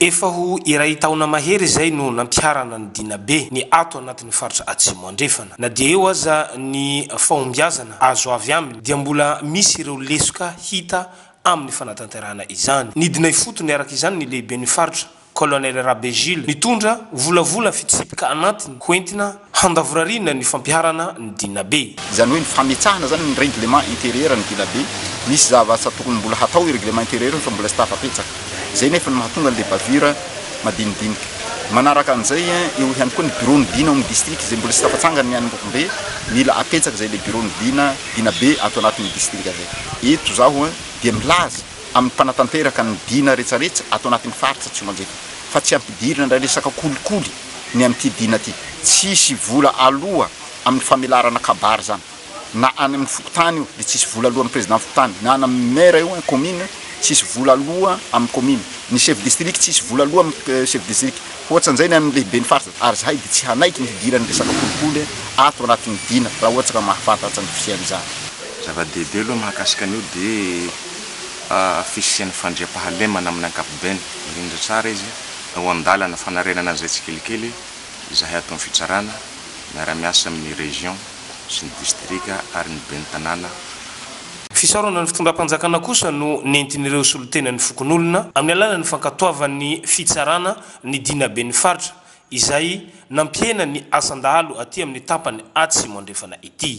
Efa ho iray taona mahery izay no nampiharana ny Dina Be ny ato anatin'ny faritra Atsimo Andrefana. Na dia eo aza ny fahombiazana azo avy aminy dia mbola misy ireo lesoka hita amin'ny fanatanterahana izany. Nidina ifotony araka izany ny lehiben'ny faritra, Colonel Rabe Jules, nitondra volavola fitsipika anatiny hoentina handavorariana ny fampiharana ny dinabe. Izany hoe ny fametsahana izany ny règlement intérieur ny dinabe, misy zava-asa tokony mbola hatao io règlement intérieur io fa mbola tsy tafapetsaka. Izay nefa no mahatonga an'ilay bavure madinidinika. Manaraka an'izay, eo ihany koa ny bureau-n'ny dina ao amin'ny distrika izay mbola tsy tafatsangany ny any Ambovombe, mila apetsaka izay ilay bureau-n'ny dina, dinabe ato anatin'ny distrika izay. Eto izaho dia milaza amin'ny mpanatanteraka ny dina rehetrarehetra ato anatin'ny faritra Tsimanjeka fa tsy ampidirina indray resaka kolikoly. ny amin'ity dina ity. Tsy hisy vola aloa amin'ny famelarana kabary izany. Na any amin'ny fokontany io dia tsy hisy vola aloa amin'ny président fokontany. Na any amin'ny maire io an, commune, tsy hisy vola aloa amin'ny commune. Ny chef district tsy hisy vola aloa amin'ny chef district. Hoatsan'izay ny an'ny lehiben'ny faritra. Ary zahay dia tsy hanaiky ny hidiran'ny resaka kolikoly ato anatin'ny dina raha ohatra ka mahafantatra ny fisian'izany. Zava-dehibe aloha mahakasika an'io dia fisian'ny fandriampahalemana amin'ny ankapobeny. Mirindra tsara izy. Tao an-dalana fanarenana an'izay tsikelikely izahay ato amin'ny fitsarana, miara-miasa amin'ny Région sy ny Distrika ary ny Ben'ny Tanàna. Fisaorana ny fitondram-panjakana kosa no nentin'ireo solontenan'ny fokonolona amin'ny alalan'ny fankatoavan'ny fitsarana ny Dina Ben'ny Faritra izay nampihena ny asan-dahalo aty amin'ny tapany atsimo andrefana ity.